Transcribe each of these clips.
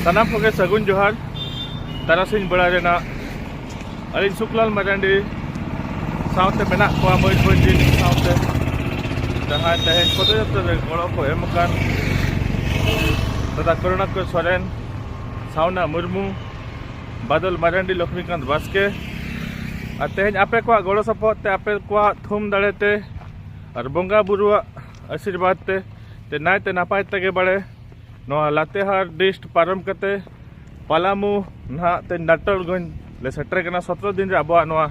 ᱥᱟᱱᱟᱢ ᱠᱚᱜᱮ ᱥᱟᱹᱜᱩᱱ ᱡᱚᱦᱟᱨ ᱛᱟᱨᱟᱥᱤᱧ ᱵᱮᱲᱟ ᱨᱮᱱᱟᱜ ᱟᱹᱞᱤᱧ ᱥᱩᱠᱞᱟᱞ ᱢᱟᱨᱟᱱᱰᱤ ᱥᱟᱶᱛᱮ ᱢᱮᱱᱟᱜ ᱠᱚᱣᱟ ᱢᱚᱭᱩᱨᱵᱷᱚᱸᱡᱽ ᱡᱤᱞ ᱥᱟᱶᱛᱮ ᱡᱟᱦᱟᱸᱭ ᱛᱮᱦᱮᱧ ᱯᱚᱫᱚᱭᱟᱛᱨᱟ ᱨᱮ ᱜᱚᱲᱚ ᱠᱚ ᱮᱢ ᱟᱠᱟᱱ ᱫᱟᱫᱟ ᱠᱚᱨᱩণᱟᱠᱚᱨ ᱥᱚᱨᱮᱱ ᱥᱟᱣᱱᱟ ᱢᱩᱨᱢᱩ ᱵᱟᱫᱚᱞ ᱢᱟᱨᱟᱱᱰᱤ ᱞᱚᱠᱷᱢᱤᱠᱟᱱᱛ ᱵᱟᱥᱠᱮ ᱟᱨ ᱛᱮᱦᱮᱧ ᱟᱯᱮ ᱠᱚᱣᱟᱜ ᱜᱚᱲᱚ ᱥᱚᱯᱚᱦᱚᱫ ᱛᱮ ᱟᱯᱮ ᱠᱚᱣᱟᱜ ᱛᱷᱩᱢ ᱫᱟᱲᱮᱛᱮ ᱟᱨ ᱵᱚᱸᱜᱟ ᱵᱩᱨᱩᱣᱟᱜ ᱟᱥᱤᱨᱵᱟᱫᱽ ᱛᱮ ᱛᱮ ᱱᱟᱭᱛᱮ ᱱᱟᱯᱟᱭ ᱛᱮᱜᱮ ᱵᱟᱲᱮ ᱱᱚᱣᱟ ᱞᱟᱛᱮᱦᱟᱨ ᱰᱤᱥᱴ ᱯᱟᱨᱚᱢ ᱠᱟᱛᱮ ᱯᱟᱞᱟᱢᱩ ᱱᱟᱦᱟᱜ ᱛᱮ ᱱᱟᱴᱚᱞᱜᱚᱸᱡᱽ ᱞᱮ ᱥᱮᱴᱮᱨ ᱠᱟᱱᱟ ᱥᱚᱛᱨᱚ ᱫᱤᱱ ᱨᱮ ᱟᱵᱚᱣᱟᱜ ᱱᱚᱣᱟ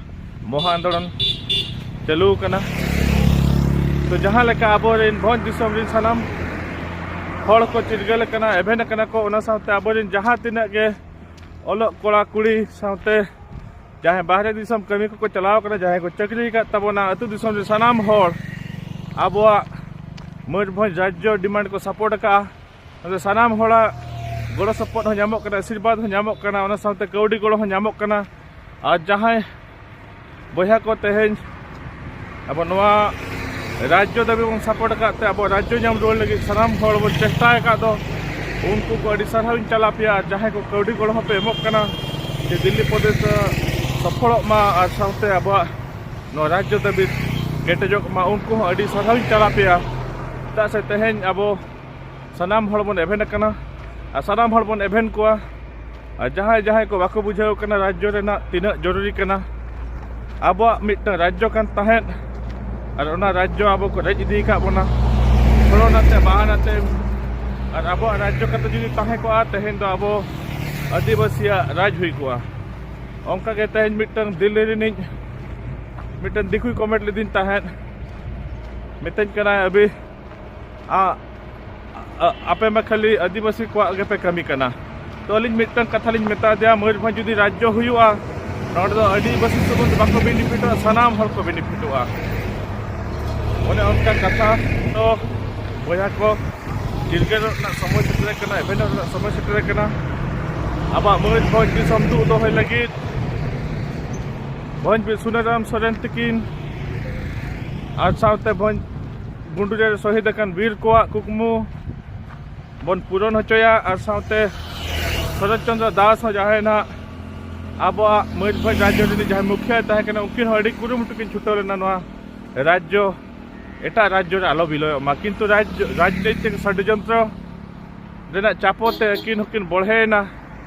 ᱢᱚᱦᱟ ᱟᱱᱫᱳᱞᱚᱱ ᱪᱟᱹᱞᱩ ᱠᱟᱱᱟ ᱛᱚ ᱡᱟᱦᱟᱸ ᱞᱮᱠᱟ ᱟᱵᱚᱨᱮᱱ ᱵᱷᱚᱸᱡᱽ ᱫᱤᱥᱚᱢ ᱨᱮᱱ ᱥᱟᱱᱟᱢ ᱦᱚᱲ ᱠᱚ ᱪᱤᱨᱜᱟᱹᱞ ᱟᱠᱟᱱᱟ ᱮᱵᱷᱮᱱ ᱟᱠᱟᱱᱟ ᱠᱚ ᱚᱱᱟ ᱥᱟᱶᱛᱮ ᱟᱵᱚᱨᱮᱱ ᱡᱟᱦᱟᱸ ᱛᱤᱱᱟᱹᱜ ᱜᱮ ᱚᱞᱚᱜ ᱠᱚᱲᱟ ᱠᱩᱲᱤ ᱥᱟᱶᱛᱮ ᱡᱟᱦᱟᱸᱭ ᱵᱟᱦᱨᱮ ᱫᱤᱥᱚᱢ ᱠᱟᱹᱢᱤ ᱠᱚᱠᱚ ᱪᱟᱞᱟᱣ ᱠᱟᱱᱟ ᱡᱟᱦᱟᱸᱭ ᱠᱚ ᱪᱟᱹᱠᱨᱤ ᱟᱠᱟᱫ ᱛᱟᱵᱚᱱᱟ ᱟᱹᱛᱩ ᱫᱤᱥᱚᱢ ᱨᱮ ᱥᱟᱱᱟᱢ ᱦᱚᱲ ᱟᱵᱚᱣᱟᱜ ᱢᱚᱭᱩᱨᱵᱷᱚᱸᱡᱽ ᱨᱟᱡᱽᱡᱚ ᱰᱤᱢᱟᱱᱰ ᱠᱚ ᱥᱟᱯᱳᱨᱴ ᱟᱠᱟᱫᱼᱟ ᱚᱱᱟᱛᱮ ᱥᱟᱱᱟᱢ ᱦᱚᱲᱟᱜ ᱜᱚᱲᱚ ᱥᱚᱯᱚᱦᱚᱫ ᱦᱚᱸ ᱧᱟᱢᱚᱜ ᱠᱟᱱᱟ ᱟᱥᱤᱨᱵᱟᱫᱽ ᱦᱚᱸ ᱧᱟᱢᱚᱜ ᱠᱟᱱᱟ ᱚᱱᱟ ᱥᱟᱶᱛᱮ ᱠᱟᱹᱣᱰᱤ ᱜᱚᱲᱚ ᱦᱚᱸ ᱧᱟᱢᱚᱜ ᱠᱟᱱᱟ ᱟᱨ ᱡᱟᱦᱟᱸᱭ ᱵᱚᱭᱦᱟ ᱠᱚ ᱛᱮᱦᱮᱧ ᱟᱵᱚ ᱱᱚᱣᱟ ᱨᱟᱡᱽᱡᱚ ᱫᱟᱹᱵᱤ ᱵᱚᱱ ᱥᱟᱯᱚᱨᱴ ᱟᱠᱟᱫ ᱛᱮ ᱟᱵᱚ ᱨᱟᱡᱽᱡᱚ ᱧᱟᱢ ᱨᱩᱣᱟᱹᱲ ᱞᱟᱹᱜᱤᱫ ᱥᱟᱱᱟᱢ ᱦᱚᱲ ᱵᱚᱱ ᱪᱮᱥᱴᱟ ᱟᱠᱟᱫ ᱫᱚ ᱩᱱᱠᱩ ᱠᱚ ᱟᱹᱰᱤ ᱥᱟᱨᱦᱟᱣ ᱤᱧ ᱪᱟᱞᱟ ᱯᱮᱭᱟ ᱟᱨ ᱡᱟᱦᱟᱸᱭ ᱠᱚ ᱠᱟᱹᱣᱰᱤ ᱜᱚᱲᱚ ᱦᱚᱸᱯᱮ ᱮᱢᱚᱜ ᱠᱟᱱᱟ ᱡᱮ ᱫᱤᱞᱞᱤ ᱯᱨᱚᱫᱮᱥ ᱥᱚᱯᱷᱚᱞᱚᱜ ᱢᱟ ᱟᱨ ᱥᱟᱶᱛᱮ ᱟᱵᱚᱣᱟᱜ ᱱᱚᱣᱟ ᱨᱟᱡᱽᱡᱚ ᱫᱟᱹᱵᱤ ᱠᱮᱴᱮᱡᱚᱜ ᱢᱟ ᱩᱱᱠᱩ ᱦᱚᱸ ᱟᱹᱰᱤ ᱥᱟᱨᱦᱟᱣ ᱤᱧ ᱪᱟᱞᱟ ᱯᱮᱭᱟ ᱪᱮᱫᱟᱜ ᱥᱮ ᱛᱮᱦᱮᱧ ᱟᱵᱚ ᱥᱟᱱᱟᱢ ᱦᱚᱲ ᱵᱚᱱ ᱮᱵᱷᱮᱱ ᱟᱠᱟᱱᱟ ᱟᱨ ᱥᱟᱱᱟᱢ ᱦᱚᱲ ᱵᱚᱱ ᱮᱵᱷᱮᱱ ᱠᱚᱣᱟ ᱟᱨ ᱡᱟᱦᱟᱸᱭ ᱡᱟᱦᱟᱸᱭ ᱠᱚ ᱵᱟᱠᱚ ᱵᱩᱡᱷᱟᱹᱣ ᱠᱟᱱᱟ ᱨᱟᱡᱽᱡᱚ ᱨᱮᱱᱟᱜ ᱛᱤᱱᱟᱹᱜ ᱡᱚᱨᱩᱨᱤ ᱠᱟᱱᱟ ᱟᱵᱚᱣᱟᱜ ᱢᱤᱫᱴᱟᱝ ᱨᱟᱡᱽᱡᱚ ᱠᱟᱱ ᱛᱟᱦᱮᱸᱫ ᱟᱨ ᱚᱱᱟ ᱨᱟᱡᱽᱡᱚ ᱟᱵᱚ ᱠᱚ ᱨᱮᱡ ᱤᱫᱤ ᱟᱠᱟᱫ ᱵᱚᱱᱟ ᱠᱚᱨᱳᱱᱟᱛᱮ ᱢᱟᱦᱟᱱᱟᱛᱮ ᱟᱨ ᱟᱵᱚᱣᱟᱜ ᱨᱟᱡᱽᱡᱚ ᱠᱟᱛᱮ ᱡᱩᱫᱤ ᱛᱟᱦᱮᱸ ᱠᱚᱜᱼᱟ ᱛᱮᱦᱮᱧ ᱫᱚ ᱟᱵᱚ ᱟᱹᱫᱤᱵᱟᱹᱥᱤᱭᱟᱜ ᱨᱟᱡᱽ ᱦᱩᱭ ᱠᱚᱜᱼᱟ ᱚᱱᱠᱟᱜᱮ ᱛᱮᱦᱮᱧ ᱢᱤᱫᱴᱟᱝ ᱫᱤᱞᱞᱤ ᱨᱤᱱᱤᱡ ᱢᱤᱫᱴᱟᱝ ᱫᱤᱠᱩᱭ ᱠᱚᱢᱮᱱᱴ ᱞᱤᱫᱤᱧ ᱛᱟᱦᱮᱸᱫ ᱢᱤᱛᱟᱹᱧ ᱠᱟᱱᱟᱭ ᱟᱹᱵᱤ ᱟᱯᱮ ᱢᱟ ᱠᱷᱟᱹᱞᱤ ᱟᱹᱫᱤᱵᱟᱹᱥᱤ ᱠᱚᱣᱟᱜ ᱜᱮᱯᱮ ᱠᱟᱹᱢᱤ ᱠᱟᱱᱟ ᱛᱚ ᱟᱹᱞᱤᱧ ᱢᱤᱫᱴᱟᱝ ᱠᱟᱛᱷᱟ ᱞᱤᱧ ᱢᱮᱛᱟ ᱫᱮᱭᱟ ᱢᱚᱭᱩᱨᱵᱷᱚᱸᱡᱽ ᱡᱩᱫᱤ ᱨᱟᱡᱽᱡᱚ ᱦᱩᱭᱩᱜᱼᱟ ᱱᱚᱰᱮ ᱫᱚ ᱟᱹᱫᱤᱵᱟᱹᱥᱤ ᱥᱩᱢᱩᱝ ᱵᱟᱠᱚ ᱵᱮᱱᱤᱯᱷᱤᱴᱚᱜᱼᱟ ᱥᱟᱱᱟᱢ ᱦᱚᱲ ᱠᱚ ᱵᱮᱱᱤᱯᱷᱤᱴᱚᱜᱼᱟ ᱚᱱᱮ ᱚᱱᱠᱟ ᱠᱟᱛᱷᱟ ᱛᱚ ᱵᱚᱭᱦᱟ ᱠᱚ ᱪᱤᱨᱜᱟᱹᱞ ᱨᱮᱱᱟᱜ ᱥᱚᱢᱚᱭ ᱥᱮᱴᱮᱨ ᱟᱠᱟᱱᱟ ᱮᱵᱷᱮᱱᱚ ᱨᱮᱱᱟᱜ ᱥᱚᱢᱚᱭ ᱥᱮᱴᱮᱨ ᱟᱠᱟᱱᱟ ᱟᱵᱚᱣᱟᱜ ᱢᱚᱭᱩᱨᱵᱷᱚᱸᱡᱽ ᱫᱤᱥᱚᱢ ᱫᱩᱜ ᱫᱚᱦᱚᱭ ᱞᱟᱹᱜᱤᱫ ᱵᱷᱚᱸᱡᱽ ᱵᱤᱨ ᱥᱩᱱᱟᱹᱨᱟᱢ ᱥᱚᱨᱮᱱ ᱛᱟᱹᱠᱤᱱ ᱟᱨ ᱥᱟᱶᱛᱮ ᱵᱷᱚᱸᱡᱽ ᱜᱩᱱᱰᱩᱨᱤ ᱨᱮ ᱥᱚᱦᱤᱫ ᱟᱠᱟᱱ ᱵᱤᱨ ᱠᱚᱣᱟᱜ ᱠᱩᱠᱢᱩ ᱵᱚᱱ ᱯᱩᱨᱚᱱ ᱦᱚᱪᱚᱭᱟ ᱟᱨ ᱥᱟᱶᱛᱮ ᱥᱚᱨᱚᱛ ᱪᱚᱱᱫᱨᱚ ᱫᱟᱥ ᱦᱚᱸ ᱡᱟᱦᱟᱸᱭ ᱱᱟᱦᱟᱜ ᱟᱵᱚᱣᱟᱜ ᱢᱚᱭᱩᱨᱵᱷᱚᱸᱡᱽ ᱨᱟᱡᱽᱡᱚ ᱨᱤᱱᱤᱡ ᱡᱟᱦᱟᱸᱭ ᱢᱩᱠᱷᱤᱭᱟᱹᱭ ᱛᱟᱦᱮᱸ ᱠᱟᱱᱟ ᱩᱱᱠᱤᱱ ᱦᱚᱸ ᱟᱹᱰᱤ ᱠᱩᱨᱩᱢᱩᱴᱩ ᱠᱤᱱ ᱪᱷᱩᱴᱟᱹᱣ ᱞᱮᱱᱟ ᱱᱚᱣᱟ ᱨᱟᱡᱽᱡᱚ ᱮᱴᱟᱜ ᱨᱟᱡᱽᱡᱚ ᱨᱮ ᱟᱞᱚ ᱵᱤᱞᱚᱭᱚᱜ ᱢᱟ ᱠᱤᱱᱛᱩ ᱨᱟᱡᱽᱡᱚ ᱨᱟᱡᱽᱱᱳᱭᱛᱤᱠ ᱥᱚᱰᱡᱚᱱᱛᱨᱚ ᱨᱮᱱᱟᱜ ᱪᱟᱯᱚ ᱛᱮ ᱟᱹᱠᱤᱱ ᱦᱚᱸᱠᱤᱱ ᱵᱚᱲᱦᱮᱭᱮᱱᱟ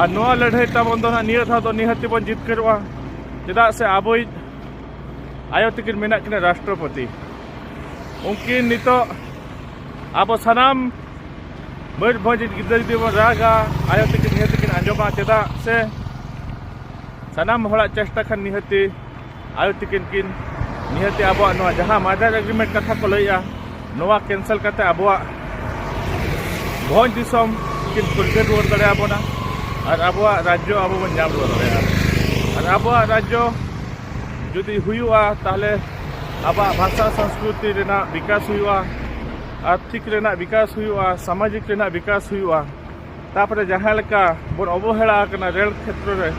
ᱟᱨ ᱱᱚᱣᱟ ᱞᱟᱹᱲᱦᱟᱹᱭ ᱛᱟᱵᱚᱱ ᱫᱚ ᱱᱟᱦᱟᱜ ᱱᱤᱭᱟᱹ ᱫᱷᱟᱣ ᱫᱚ ᱱᱤᱦᱟᱹᱛᱤ ᱵᱚᱱ ᱡᱤᱛᱠᱟᱹᱨᱚᱜᱼᱟ ᱪᱮᱫᱟᱜ ᱥᱮ ᱟᱵᱚᱭᱤᱡ ᱟᱭᱳ ᱛᱤᱠᱤᱱ ᱢᱮᱱᱟᱜ ᱠᱤᱱᱟ ᱨᱟᱥᱴᱨᱚᱯᱚᱛᱤ ᱩᱱᱠᱤᱱ ᱱᱤᱛᱚᱜ ᱟᱵᱚ ᱥᱟᱱᱟᱢ ᱵᱟᱹᱨ ᱵᱷᱚᱡᱽ ᱜᱤᱫᱽᱨᱟᱹ ᱡᱩᱫᱤ ᱵᱚᱱ ᱨᱟᱜᱟ ᱟᱭᱳ ᱛᱤᱠᱤᱱ ᱱᱤᱦᱟᱹᱛᱤ ᱠᱤᱱ ᱟᱸᱡᱚᱢᱟ ᱪᱮᱫᱟᱜ ᱥᱮ ᱥᱟᱱᱟᱢ ᱦᱚᱲᱟᱜ ᱪᱮᱥᱴᱟ ᱠᱷᱟᱱ ᱱᱤᱦᱟᱹᱛᱤ ᱟᱭᱳ ᱛᱤᱠᱤᱱ ᱠᱤᱱ ᱱᱤᱦᱟᱹᱛᱤ ᱟᱵᱚᱣᱟᱜ ᱱᱚᱣᱟ ᱡᱟᱦᱟᱸ ᱢᱟᱫᱟᱨ ᱮᱜᱽᱨᱤᱢᱮᱱᱴ ᱠᱟᱛᱷᱟ ᱠᱚ ᱞᱟᱹᱭᱮᱜᱼᱟ ᱱᱚᱣᱟ ᱠᱮᱱᱥᱮᱞ ᱠᱟᱛᱮ ᱟᱵᱚᱣᱟᱜ ᱵᱷᱚᱸᱡᱽ ᱫᱤᱥᱚᱢ ᱠᱤᱱ ᱯᱷᱩᱨᱜᱟᱹ ᱨᱩᱣᱟᱹᱲ ᱫᱟᱲᱮᱭᱟᱵᱚᱱᱟ ᱟᱨ ᱟᱵᱚᱣᱟᱜ ᱨᱟᱡᱽᱡᱚ ᱟᱵᱚ ᱵᱚᱱ ᱧᱟᱢ ᱨᱩᱣᱟᱹᱲ ᱫᱟᱲᱮᱭᱟᱜᱼᱟ ᱟᱨ ᱟᱵᱚᱣᱟᱜ ᱨᱟᱡᱽᱡᱚ ᱡᱩᱫᱤ ᱦᱩᱭᱩᱜᱼᱟ ᱛᱟᱦᱚᱞᱮ ᱟᱵᱚᱣᱟᱜ ᱵᱷᱟᱥᱟ ᱥᱚᱝᱥᱠᱨᱤᱛᱤ ᱨᱮᱱᱟᱜ ᱵᱤᱠᱟᱥ ᱦᱩᱭᱩᱜᱼᱟ ᱟᱨᱛᱷᱤᱠ ᱨᱮᱱᱟᱜ ᱵᱤᱠᱟᱥ ᱦᱩᱭᱩᱜᱼᱟ ᱥᱟᱢᱟᱡᱤᱠ ᱨᱮᱱᱟᱜ ᱵᱤᱠᱟᱥ ᱦᱩᱭᱩᱜᱼᱟ ᱛᱟᱯᱚᱨᱮ ᱡᱟᱦᱟᱸ ᱞᱮᱠᱟ ᱵᱚᱱ ᱚᱵᱚᱦᱮᱲᱟ ᱟᱠᱟᱱᱟ ᱨᱮᱞ ᱠᱷᱮᱛᱨᱚ ᱨᱮ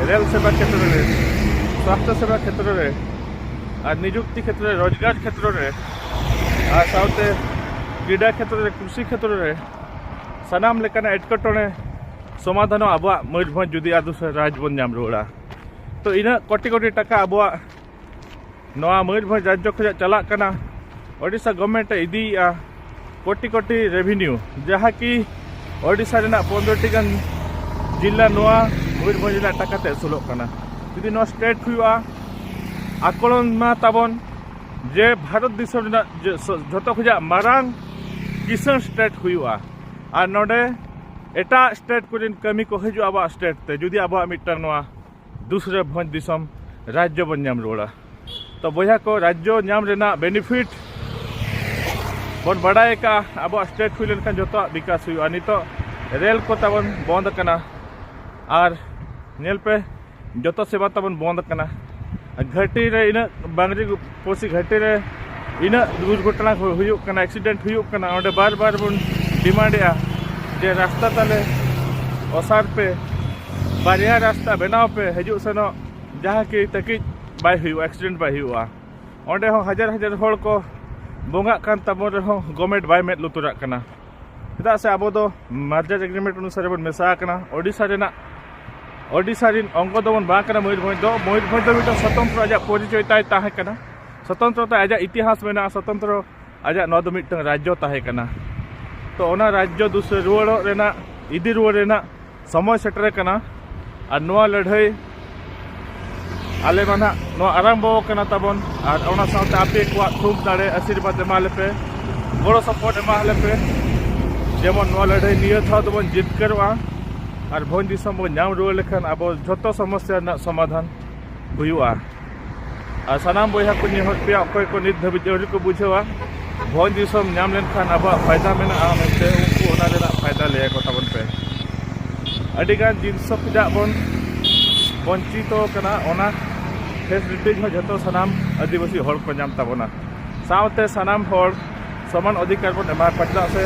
ᱨᱮᱞ ᱥᱮᱵᱟ ᱠᱷᱮᱛᱨᱚ ᱨᱮ ᱥᱟᱥᱛᱷᱚ ᱥᱮᱵᱟ ᱠᱷᱮᱛᱨᱚ ᱨᱮ ᱟᱨ ᱱᱤᱡᱩᱠᱛᱤ ᱠᱷᱮᱛᱨᱚ ᱨᱮ ᱨᱳᱡᱽᱜᱟᱨ ᱠᱷᱮᱛᱨᱚ ᱨᱮ ᱟᱨ ᱥᱟᱶᱛᱮ ᱠᱨᱤᱰᱟ ᱠᱷᱮᱛᱨᱚ ᱨᱮ ᱠᱨᱤᱥᱤ ᱠᱷᱮᱛᱨᱚ ᱨᱮ ᱥᱟᱱᱟᱢ ᱞᱮᱠᱟᱱᱟᱜ ᱮᱴᱠᱮᱴᱚᱬᱮ ᱥᱚᱢᱟᱫᱷᱟᱱᱚᱜ ᱟᱵᱚᱣᱟᱜ ᱢᱚᱭᱩᱨᱵᱷᱚᱸᱡᱽ ᱡᱩᱫᱤ ᱟᱫᱚ ᱨᱟᱡᱽ ᱵᱚᱱ ᱧᱟᱢ ᱨᱩᱣᱟᱹᱲᱟ ᱛᱚ ᱤᱱᱟᱹᱜ ᱠᱳᱴᱤ ᱠᱳᱴᱤ ᱴᱟᱠᱟ ᱟᱵᱚᱣᱟᱜ ᱱᱚᱣᱟ ᱢᱚᱭᱩᱨᱵᱷᱚᱸᱡᱽ ᱨᱟᱡᱽᱡᱚ ᱠᱷᱚᱱᱟᱜ ᱪᱟᱞᱟᱜ ᱠᱟᱱᱟ ᱳᱰᱤᱥᱟ ᱜᱚᱵᱷᱢᱮᱱᱴ ᱮ ᱤᱫᱤᱭᱮᱜᱼᱟ ᱠᱳᱴᱤ ᱠᱳᱴᱤ ᱨᱮᱵᱷᱤᱱᱤᱭᱩ ᱡᱟᱦᱟᱸ ᱠᱤ ᱳᱰᱤᱥᱟ ᱨᱮᱱᱟᱜ ᱯᱚᱱᱨᱚᱴᱤ ᱜᱟᱱ ᱡᱤᱞᱟ ᱱᱚᱣᱟ ᱢᱚᱭᱩᱨᱵᱷᱚᱸᱡᱽ ᱨᱮᱱᱟᱜ ᱴᱟᱠᱟ ᱛᱮ ᱟᱹᱥᱩᱞᱚᱜ ᱠᱟᱱᱟ ᱡᱩᱫᱤ ᱱᱚᱣᱟ ᱥᱴᱮᱴ ᱦᱩᱭᱩᱜᱼᱟ ᱟᱠᱚᱞᱚᱱ ᱢᱟ ᱛᱟᱵᱚᱱ ᱡᱮ ᱵᱷᱟᱨᱚᱛ ᱫᱤᱥᱚᱢ ᱨᱮᱱᱟᱜ ᱡᱷᱚᱛᱚ ᱠᱷᱚᱱᱟᱜ ᱢᱟᱨᱟᱝ ᱠᱤᱥᱟᱹᱬ ᱥᱴᱮᱴ ᱦᱩᱭᱩᱜᱼᱟ ᱟᱨ ᱱᱚᱰᱮ ᱮᱴᱟᱜ ᱥᱴᱮᱴ ᱠᱚᱨᱮᱱ ᱠᱟᱹᱢᱤ ᱠᱚ ᱦᱤᱡᱩᱜᱼᱟ ᱟᱵᱚᱣᱟᱜ ᱥᱴᱮᱴ ᱛᱮ ᱡᱩᱫᱤ ᱟᱵᱚᱣᱟᱜ ᱢᱤᱫᱴᱟᱝ ᱱᱚᱣᱟ ᱫᱩᱥᱨᱟᱹ ᱵᱷᱚᱸᱡᱽ ᱫᱤᱥᱚᱢ ᱨᱟᱡᱽᱡᱚ ᱵᱚᱱ ᱧᱟᱢ ᱨᱩᱣᱟᱹᱲᱟ ᱛᱚ ᱵᱚᱭᱦᱟ ᱠᱚ ᱨᱟᱡᱽᱡᱚ ᱧᱟᱢ ᱨᱮᱱᱟᱜ ᱵᱮᱱᱤᱯᱷᱤᱴ ᱵᱚᱱ ᱵᱟᱰᱟᱭ ᱟᱠᱟᱫᱼᱟ ᱟᱵᱚᱣᱟᱜ ᱥᱴᱮᱴ ᱦᱩᱭ ᱞᱮᱱᱠᱷᱟᱱ ᱡᱚᱛᱚᱣᱟᱜ ᱵᱤᱠᱟᱥ ᱦᱩᱭᱩᱜᱼᱟ ᱱᱤᱛᱚᱜ ᱨᱮᱞ ᱠᱚ ᱛᱟᱵᱚᱱ ᱵᱚᱱᱫ ᱟᱠᱟᱱᱟ ᱟᱨ ᱧᱮᱞ ᱯᱮ ᱡᱚᱛᱚ ᱥᱮᱵᱟ ᱛᱟᱵᱚᱱ ᱵᱚᱱᱫ ᱟᱠᱟᱱᱟ ᱜᱷᱟᱹᱴᱤ ᱨᱮ ᱤᱱᱟᱹᱜ ᱵᱟᱝᱨᱤ ᱯᱚᱲᱥᱤ ᱜᱷᱟᱴᱤ ᱨᱮ ᱤᱱᱟᱹᱜ ᱫᱩᱨᱜᱷᱚᱴᱚᱱᱟ ᱦᱩᱭᱩᱜ ᱠᱟᱱᱟ ᱮᱠᱥᱤᱰᱮᱱᱴ ᱦᱩᱭᱩᱜ ᱠᱟᱱᱟ ᱚᱸᱰᱮ ᱵᱟᱨ ᱵᱟᱨ ᱵᱚᱱ ᱰᱤᱢᱟᱱᱰᱮᱜᱼᱟ ᱡᱮ ᱨᱟᱥᱛᱟ ᱛᱟᱞᱮ ᱚᱥᱟᱨ ᱯᱮ ᱵᱟᱨᱭᱟ ᱨᱟᱥᱛᱟ ᱵᱮᱱᱟᱣ ᱯᱮ ᱦᱤᱡᱩᱜ ᱥᱮᱱᱚᱜ ᱡᱟᱦᱟᱸ ᱠᱤ ᱛᱟᱹᱠᱤᱡ ᱵᱟᱭ ᱦᱩᱭᱩᱜᱼᱟ ᱮᱠᱥᱤᱰᱮᱱᱴ ᱵᱟᱭ ᱦᱩᱭᱩᱜᱼᱟ ᱚᱸᱰᱮ ᱦᱚᱸ ᱦᱟᱡᱟᱨ ᱦᱟᱡᱟᱨ ᱦᱚᱲ ᱠᱚ ᱵᱚᱸᱜᱟᱜ ᱠᱟᱱ ᱛᱟᱵᱚᱱ ᱨᱮᱦᱚᱸ ᱜᱚᱵᱷᱢᱮᱱᱴ ᱵᱟᱭ ᱢᱮᱫ ᱞᱩᱛᱩᱨᱟᱜ ᱠᱟᱱᱟ ᱪᱮᱫᱟᱜ ᱥᱮ ᱟᱵᱚ ᱫᱚ ᱢᱟᱨᱡᱟᱡᱽ ᱮᱜᱽᱨᱤᱢᱮᱱᱴ ᱚᱱᱩᱥᱟᱨᱮ ᱵᱚᱱ ᱢᱮᱥᱟ ᱟᱠᱟᱱᱟ ᱳᱰᱤᱥᱟ ᱨᱮᱱᱟᱜ ᱳᱰᱤᱥᱟ ᱨᱮᱱ ᱚᱝᱜᱚ ᱫᱚᱵᱚᱱ ᱵᱟᱝ ᱠᱟᱱᱟ ᱢᱚᱭᱩᱨᱵᱷᱚᱸᱡᱽ ᱫᱚ ᱢᱚᱭᱩᱨᱵᱷᱚᱸᱡᱽ ᱫᱚ ᱢᱤᱫᱴᱟᱝ ᱥᱚᱛᱚᱱᱛᱨᱚ ᱟᱡᱟᱜ ᱯᱚᱨᱤᱪᱚᱭ ᱛᱟᱭ ᱛᱟᱦᱮᱸ ᱠᱟᱱᱟ ᱥᱚᱛᱚᱱᱛᱨᱚ ᱛᱮ ᱟᱡᱟᱜ ᱤᱛᱤᱦᱟᱥ ᱢᱮᱱᱟᱜᱼᱟ ᱥᱚᱛᱚᱱᱛᱨᱚ ᱟᱡᱟᱜ ᱱᱚᱣᱟ ᱫᱚ ᱢᱤᱫᱴᱟᱝ ᱨᱟᱡᱽᱡᱚ ᱛᱟᱦᱮᱸ ᱠᱟᱱᱟ ᱛᱚ ᱚᱱᱟ ᱨᱟᱡᱽᱡᱚ ᱫᱩᱥᱟᱹ ᱨᱩᱣᱟᱹᱲᱚᱜ ᱨᱮᱱᱟᱜ ᱤᱫᱤ ᱨᱩᱣᱟᱹᱲ ᱨᱮᱱᱟᱜ ᱥᱚᱢᱚᱭ ᱥᱮᱴᱮᱨ ᱟᱠᱟᱱᱟ ᱟᱨ ᱱᱚᱣᱟ ᱞᱟᱹᱲᱦᱟᱹᱭ ᱟᱞᱮ ᱢᱟ ᱱᱟᱜ ᱱᱚᱣᱟ ᱟᱨᱟᱢᱵᱚ ᱟᱠᱟᱱᱟ ᱛᱟᱵᱚᱱ ᱟᱨ ᱚᱱᱟ ᱥᱟᱶᱛᱮ ᱟᱯᱮ ᱠᱚᱣᱟᱜ ᱛᱷᱩᱢ ᱫᱟᱲᱮ ᱟᱥᱤᱨᱵᱟᱫᱽ ᱮᱢᱟ ᱞᱮᱯᱮ ᱜᱚᱲᱚ ᱥᱚᱯᱚᱦᱚᱫ ᱮᱢᱟ ᱞᱮᱯᱮ ᱡᱮᱢᱚᱱ ᱱᱚᱣᱟ ᱞᱟᱹᱲᱦᱟᱹᱭ ᱱᱤᱭᱟᱹ ᱫᱷᱟᱣ ᱫᱚᱵᱚᱱ ᱡᱤᱛᱠᱟᱹᱨᱚᱜᱼᱟ ᱟᱨ ᱵᱷᱚᱸᱡᱽ ᱫᱤᱥᱚᱢ ᱵᱚᱱ ᱧᱟᱢ ᱨᱩᱣᱟᱹᱲ ᱞᱮᱠᱷᱟᱱ ᱟᱵᱚ ᱡᱷᱚᱛᱚ ᱥᱚᱢᱚᱥᱥᱟ ᱨᱮᱱᱟᱜ ᱥᱚᱢᱟᱫᱷᱟᱱ ᱦᱩᱭᱩᱜᱼᱟ ᱟᱨ ᱥᱟᱱᱟᱢ ᱵᱚᱭᱦᱟ ᱠᱚ ᱱᱮᱦᱚᱨ ᱯᱮᱭᱟ ᱚᱠᱚᱭ ᱠᱚ ᱱᱤᱛ ᱫᱷᱟᱹᱵᱤᱡ ᱟᱹᱣᱨᱤ ᱠᱚ ᱵᱩᱡᱷᱟᱹᱣᱟ ᱵᱷᱚᱸᱡᱽ ᱫᱤᱥᱚᱢ ᱧᱟᱢ ᱞᱮᱱᱠᱷᱟᱱ ᱟᱵᱚᱣᱟᱜ ᱯᱷᱟᱭᱫᱟ ᱢᱮᱱᱟᱜᱼᱟ ᱢᱮᱱᱛᱮ ᱩᱱᱠᱩ ᱚᱱᱟ ᱨᱮᱱᱟᱜ ᱯᱷᱟᱭᱫᱟ ᱞᱟᱹᱭ ᱟᱠᱚ ᱛᱟᱵᱚᱱ ᱯᱮ ᱟᱹᱰᱤᱜᱟᱱ ᱡᱤᱱᱤᱥ ᱠᱷᱚᱱᱟᱜ ᱵᱚᱱ ᱵᱚᱧᱪᱤᱛᱚ ᱠᱟᱱᱟ ᱚᱱᱟ ᱯᱷᱮᱥᱤᱞᱤᱴᱤᱡᱽ ᱦᱚᱸ ᱡᱚᱛᱚ ᱥᱟᱱᱟᱢ ᱟᱹᱫᱤᱵᱟᱹᱥᱤ ᱦᱚᱲ ᱠᱚ ᱧᱟᱢ ᱛᱟᱵᱚᱱᱟ ᱥᱟᱶᱛᱮ ᱥᱟᱱᱟᱢ ᱦᱚᱲ ᱥᱚᱢᱟᱱ ᱚᱫᱷᱤᱠᱟᱨ ᱵᱚᱱ ᱮᱢᱟ ᱠᱚᱣᱟ ᱪᱮᱫᱟᱜ ᱥᱮ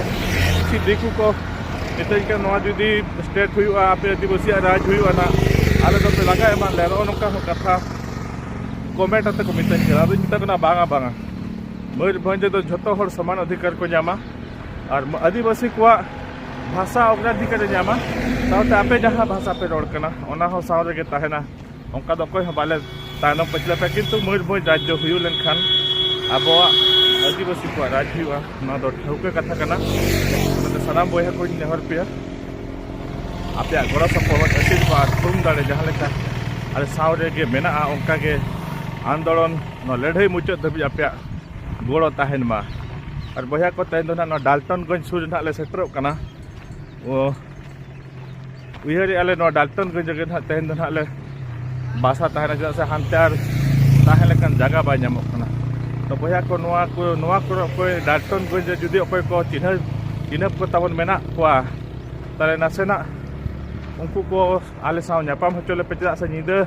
ᱠᱤᱪᱷᱩ ᱫᱤᱠᱩ ᱠᱚ ᱢᱤᱛᱟᱹᱧ ᱠᱟᱱᱟ ᱱᱚᱣᱟ ᱡᱩᱫᱤ ᱥᱴᱮᱴ ᱦᱩᱭᱩᱜᱼᱟ ᱟᱯᱮ ᱟᱹᱫᱤᱵᱟᱹᱥᱤᱭᱟᱜ ᱨᱟᱡᱽ ᱦᱩᱭᱩᱜᱼᱟ ᱱᱟᱜ ᱟᱞᱮ ᱫᱚᱯᱮ ᱞᱟᱜᱟ ᱮᱢᱟᱜ ᱞᱮᱭᱟ ᱱᱚᱜᱼᱚ ᱱᱚᱝᱠᱟ ᱦᱚᱸ ᱠᱟᱛᱷᱟ ᱠᱚᱢᱮᱱᱴ ᱟᱛᱮ ᱠᱚ ᱢᱤᱛᱟᱹᱧ ᱠᱟᱱᱟ ᱟᱫᱚᱧ ᱢᱮᱛᱟ ᱠᱟᱱᱟ ᱵᱟᱝᱟ ᱵᱟᱝᱟ ᱢᱚᱭᱩᱨᱵᱷᱚᱸᱡᱽ ᱨᱮᱫᱚ ᱡᱷᱚᱛᱚ ᱦᱚᱲ ᱥᱚᱢᱟᱱ ᱚᱫᱷᱤᱠᱟᱨ ᱠᱚ ᱧᱟᱢᱟ ᱟᱨ ᱟᱹᱫᱤᱵᱟᱹᱥᱤ ᱠᱚᱣᱟᱜ ᱵᱷᱟᱥᱟ ᱚᱜᱽᱨᱟᱫᱷᱤᱠᱟᱨᱮ ᱧᱟᱢᱟ ᱥᱟᱶᱛᱮ ᱟᱯᱮ ᱡᱟᱦᱟᱸ ᱵᱷᱟᱥᱟ ᱯᱮ ᱨᱚᱲ ᱠᱟᱱᱟ ᱚᱱᱟ ᱦᱚᱸ ᱥᱟᱶ ᱨᱮᱜᱮ ᱛᱟᱦᱮᱱᱟ ᱚᱱᱠᱟ ᱫᱚ ᱚᱠᱚᱭ ᱦᱚᱸ ᱵᱟᱞᱮ ᱛᱟᱭᱱᱚᱢ ᱯᱟᱹᱪᱞᱟᱹ ᱯᱮ ᱠᱤᱱᱛᱩ ᱢᱚᱡᱽ ᱢᱚᱡᱽ ᱨᱟᱡᱽ ᱫᱚ ᱦᱩᱭᱩᱜ ᱞᱮᱱᱠᱷᱟᱱ ᱟᱵᱚᱣᱟᱜ ᱟᱹᱫᱤᱵᱟᱹᱥᱤ ᱠᱚᱣᱟᱜ ᱨᱟᱡᱽ ᱦᱩᱭᱩᱜᱼᱟ ᱱᱚᱣᱟ ᱫᱚ ᱴᱷᱟᱹᱣᱠᱟᱹ ᱠᱟᱛᱷᱟ ᱠᱟᱱᱟ ᱚᱱᱟᱛᱮ ᱥᱟᱱᱟᱢ ᱵᱚᱭᱦᱟ ᱠᱚᱧ ᱱᱮᱦᱚᱨ ᱯᱮᱭᱟ ᱟᱯᱮᱭᱟᱜ ᱜᱚᱲᱚ ᱥᱚᱯᱚᱦᱚᱫ ᱟᱥᱤᱨᱵᱟᱫ ᱛᱷᱩᱢ ᱫᱟᱲᱮ ᱡᱟᱦᱟᱸ ᱞᱮᱠᱟ ᱟᱞᱮ ᱥᱟᱶ ᱨᱮᱜᱮ ᱢᱮᱱᱟᱜᱼᱟ ᱚᱱᱠᱟᱜᱮ ᱟᱱᱫᱳᱞᱚᱱ ᱱᱚᱣᱟ ᱞᱟᱹᱲᱦᱟᱹᱭ ᱢᱩᱪᱟᱹᱫ ᱫᱷᱟᱹᱵᱤᱡ ᱟᱯᱮᱭᱟᱜ ᱜᱚᱲᱚ ᱛᱟᱦᱮᱱ ᱢᱟ ᱟᱨ ᱵᱚᱭᱦᱟ ᱠᱚ ᱛᱮᱦᱮᱧ ᱫᱚ ᱱᱟᱦᱟᱜ ᱱᱚᱣᱟ ᱰᱟᱞᱴᱚᱱᱜᱚᱸᱡᱽ ᱥᱩᱨ ᱨᱮ ᱱᱟᱦᱟᱜ ᱞᱮ ᱥᱮᱴᱮᱨᱚᱜ ᱠᱟᱱᱟ ᱚ ᱩᱭᱦᱟᱹᱨᱮ ᱟᱞᱮ ᱱᱚᱣᱟ ᱰᱟᱞᱴᱚᱱᱜᱚᱸᱡᱽ ᱨᱮᱜᱮ ᱱᱟᱦᱟᱜ ᱛᱮᱦᱮᱧ ᱫᱚ ᱱᱟᱦᱟᱜ ᱞᱮ ᱵᱟᱥᱟ ᱛᱟᱦᱮᱱᱟ ᱪᱮᱫᱟᱜ ᱥᱮ ᱦᱟᱱᱛᱮ ᱟᱨ ᱛᱟᱦᱮᱸ ᱞᱮᱠᱟᱱ ᱡᱟᱭᱜᱟ ᱵᱟᱭ ᱧᱟᱢᱚᱜ ᱠᱟᱱᱟ ᱛᱚ ᱵᱚᱭᱦᱟ ᱠᱚ ᱱᱚᱣᱟ ᱠᱚ ᱱᱚᱣᱟ ᱠᱚᱨᱮ ᱚᱠᱚᱭ ᱰᱟᱞᱴᱚᱱᱜᱚᱸᱡᱽ ᱨᱮ ᱡᱩᱫᱤ ᱚᱠᱚᱭ ᱠᱚ ᱪᱤᱱᱦᱟᱹ ᱪᱤᱱᱦᱟᱹᱯ ᱠᱚ ᱛᱟᱵᱚᱱ ᱢᱮᱱᱟᱜ ᱠᱚᱣᱟ ᱛᱟᱦᱚᱞᱮ ᱱᱟᱥᱮᱱᱟᱜ ᱩᱱᱠᱩ ᱠᱚ ᱟᱞᱮ ᱥᱟᱶ ᱧᱟᱯᱟᱢ ᱦᱚᱪᱚ ᱞᱮᱯᱮ ᱪᱮᱫᱟᱜ ᱥᱮ ᱧᱤᱫᱟᱹ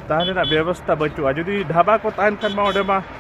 ᱛᱟᱦᱮᱱ ᱨᱮᱱᱟᱜ ᱵᱮᱵᱚᱥᱛᱷᱟ ᱵᱟᱹᱪᱩᱜᱼᱟ ᱡᱩᱫᱤ ᱰᱷᱟᱵᱟ ᱠᱚ ᱛᱟᱦᱮᱱ ᱠᱷᱟᱱ ᱢᱟ ᱚᱸᱰᱮ ᱢᱟ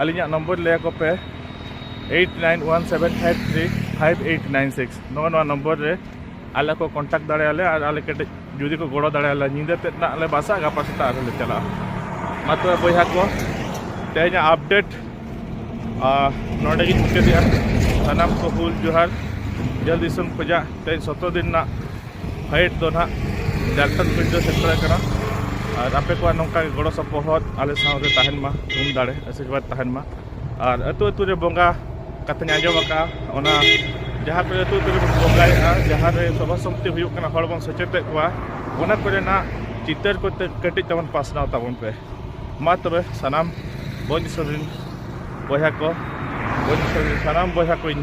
ᱟᱹᱞᱤᱧᱟᱜ ᱱᱚᱢᱵᱚᱨ ᱞᱟᱹᱭ ᱟᱠᱚ ᱯᱮ eight nine one seven five three five eight nine six ᱱᱚᱜᱼᱚ ᱱᱚᱣᱟ ᱱᱚᱢᱵᱚᱨ ᱨᱮ ᱟᱞᱮ ᱠᱚ ᱠᱚᱱᱴᱟᱠᱴ ᱫᱟᱲᱮᱭᱟᱞᱮ ᱟᱨ ᱟᱞᱮ ᱠᱟᱹᱴᱤᱡ ᱡᱩᱫᱤ ᱠᱚ ᱜᱚᱲᱚ ᱫᱟᱲᱮᱭᱟᱞᱮ ᱧᱤᱫᱟᱹ ᱛᱮᱫ ᱱᱟᱜ ᱞᱮ ᱵᱟᱥᱟ ᱜᱟᱯᱟ ᱥᱮᱛᱟᱜ ᱨᱮᱞᱮ ᱪᱟᱞᱟᱜᱼᱟ ᱢᱟ ᱛᱚᱵᱮ ᱵᱚᱭᱦᱟ ᱠᱚ ᱛᱮᱦᱮᱧᱟᱜ ᱟᱯᱰᱮᱴ ᱱᱚᱰᱮ ᱜᱤᱧ ᱢᱩᱪᱟᱹᱫᱮᱜᱼᱟ ᱥᱟᱱᱟᱢ ᱠᱚ ᱦᱩᱞ ᱡᱚᱦᱟᱨ ᱡᱷᱟᱹᱞ ᱫᱤᱥᱚᱢ ᱠᱷᱚᱡᱟᱜ ᱛᱮᱦᱮᱧ ᱥᱚᱛᱨᱚ ᱫᱤᱱ ᱨᱮᱱᱟᱜ ᱯᱷᱟᱭᱤᱴ ᱫᱚ ᱱᱟᱦᱟᱜ ᱡᱷᱟᱲᱠᱷᱚᱸᱰ ᱵᱷᱤᱰᱤᱭᱳ ᱥᱮᱱᱴᱟᱨ ᱨᱮ ᱠᱟᱱᱟ ᱟᱨ ᱟᱯᱮ ᱠᱚᱣᱟᱜ ᱱᱚᱝᱠᱟ ᱜᱮ ᱜᱚᱲᱚ ᱥᱚᱯᱚᱦᱚᱫ ᱟᱞᱮ ᱥᱟᱶᱨᱮ ᱛᱟᱦᱮᱱ ᱢᱟ ᱛᱷᱩᱢ ᱫᱟᱲᱮ ᱟᱥᱤᱨᱵᱟᱫᱽ ᱛᱟᱦᱮᱱ ᱢᱟ ᱟᱨ ᱟᱹᱛᱩ ᱟᱹᱛᱩ ᱨᱮ ᱵᱚᱸᱜᱟ ᱠᱟᱛᱷᱟᱧ ᱟᱸᱡᱚᱢ ᱟᱠᱟᱜᱼᱟ ᱚᱱᱟ ᱡᱟᱦᱟᱸ ᱠᱚᱨᱮ ᱟᱹᱛᱩ ᱟᱹᱛᱩ ᱨᱮᱵᱚᱱ ᱵᱚᱸᱜᱟᱭᱮᱫᱼᱟ ᱡᱟᱦᱟᱸ ᱨᱮ ᱥᱚᱵᱷᱟ ᱥᱚᱢᱤᱛᱤ ᱦᱩᱭᱩᱜ ᱠᱟᱱᱟ ᱦᱚᱲ ᱵᱚᱱ ᱥᱮᱪᱮᱫᱮᱫ ᱠᱚᱣᱟ ᱚᱱᱟ ᱠᱚᱨᱮᱱᱟᱜ ᱪᱤᱛᱟᱹᱨ ᱠᱚ ᱠᱟᱹᱴᱤᱡ ᱛᱟᱵᱚᱱ ᱯᱟᱥᱱᱟᱣ ᱛᱟᱵᱚᱱ ᱯᱮ ᱢᱟ ᱛᱚᱵᱮ ᱥᱟᱱᱟᱢ ᱵᱚᱱ ᱫᱤᱥᱚᱢ ᱨᱮᱱ ᱵᱚᱭᱦᱟ ᱠᱚ ᱵᱚᱱ ᱫᱤᱥᱚᱢ ᱨᱮᱱ ᱥᱟᱱᱟᱢ ᱵᱚᱭᱦᱟ ᱠᱚᱧ